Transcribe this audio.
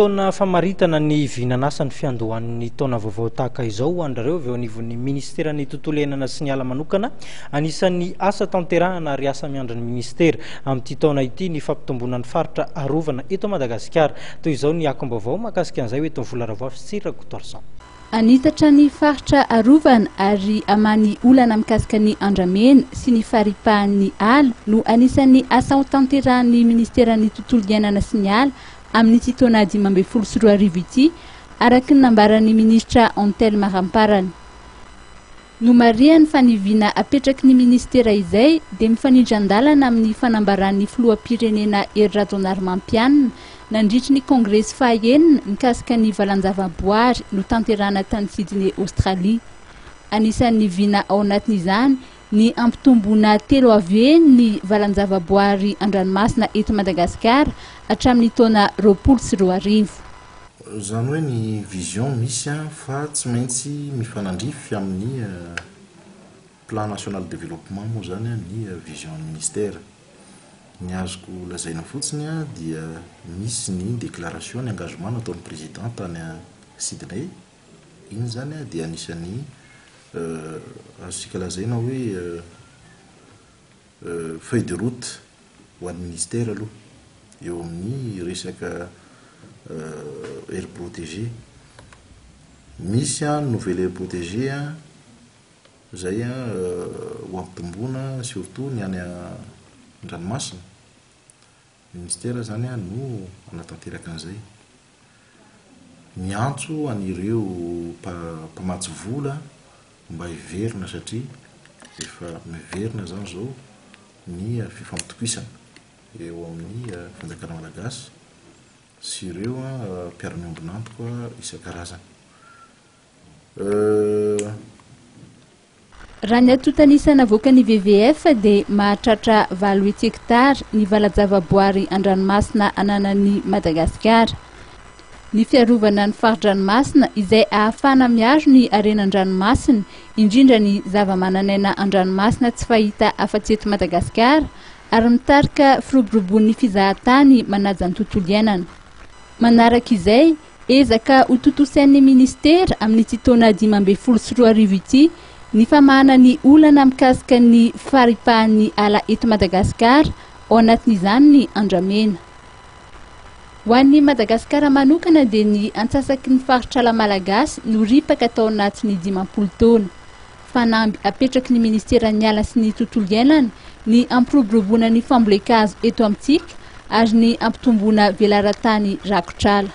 Fotoana famaritana ny vinan'asa ny fiandohan'ny taona vaovao tahaka izao ho an-dry reo avy eo anivon'ny Ministeran'ny Tontolo Iainana sy ny Ala manokana. Anisan'ny asa tanterahana ary asa miandry ny Ministera amin'ity taona ity ny fampitomboana ny faritra arovana eto Madagasikara. Toy izao ny akom-baovao mahakasika an'izay ho eto Vola Ravoafy sy Tsirira Kotorson. Anitatra ny faritra arovana ary aman'ny olana mikasika ny andramena sy ny faripahan'ny ala no anisan'ny asa ho tanterahan'ny Ministeran'ny Tontolo Iainana sy ny Ala amin'ity taona dimy ambin'ny folo sy roa arivo ity, araka ny nambaran'ny minisitra Antelme Ramparana. Nomarihany fa ny vina apetraky ny minisitera izay dia mifanindran-dalana amin'ny fanambaran'ny filoham-pirenena Hery Rajaonarimampianina nandritry ny kongresy fahaenina mikasika ny valanjavaboary notanterahana tany Sydney Aostralia. Anisan'ny vina ao anatin'izany Ny hampitomboana telo avy eny ny valan-javaboary an-dranomasina eto Madagasikara hatramin'ny taona roapolo sy roa arivo. Izany hoe ny vision misy fa tsy maintsy mifanandrify amin'ny Plan national développement moa izany ny vision an'ny Ministera. Ny azoko lazaina fotsiny dia misy ny déclaration, ny engagement nataon'ny Président tany Sydney, Iny izany dia anisan'ny azontsika lazaina hoe feuille de route ho an'ny Ministera aloha eo amin'ny resaka aire protégée. Misy ny nouvelle aire protégée izay ho ampitomboina surtout ny any an-dranomasina. Minisitera izany no hanatanteraka an'izay. Miantso an'ireo mpamatsy vola mba hiverina satria efa miverina izany izao ny fifampitokisana eo amin'ny fanjakana malagasy sy ireo mpiara-miombon'antoka isan-karazany. Raha ny antontan'isa navoakan'ny WWF dia mahatratra valo hetsy hektara ny vala-javaboary an-dranomasina ananan'i Madagasikara. Ny fiarovana ny fari-dranomasina izay ahafahana miaro ny harena an-dranomasina, indrindra ny zavamananaina an-dranomasina tsy fahita afa-tsy eto Madagasikara ary mitarika firoborobon'ny fizahantany manaja ny tontolo iainana. Manaraka izay, Ezaka ho tontosain'ny minisitera amin'ity taona dimy ambin'ny folo sy roa arivo ity ny famahana ny olana mikasika ny faripahan'ny ala eto Madagasikara, ao anatin'izany ny andramena. Ho an'i Madagasikara manokana dia ny antsasaky ny faritr'ala malagasy no ripaka tao anatin'ny dimampolo taona. Fanamby apetraky ny minisiteran'ny ala sy ny tontolo iainana ny hampiroboroboana ny fambolen-kazo eto amintsika ary ny hampitomboana velaran-tany rakotr'ala.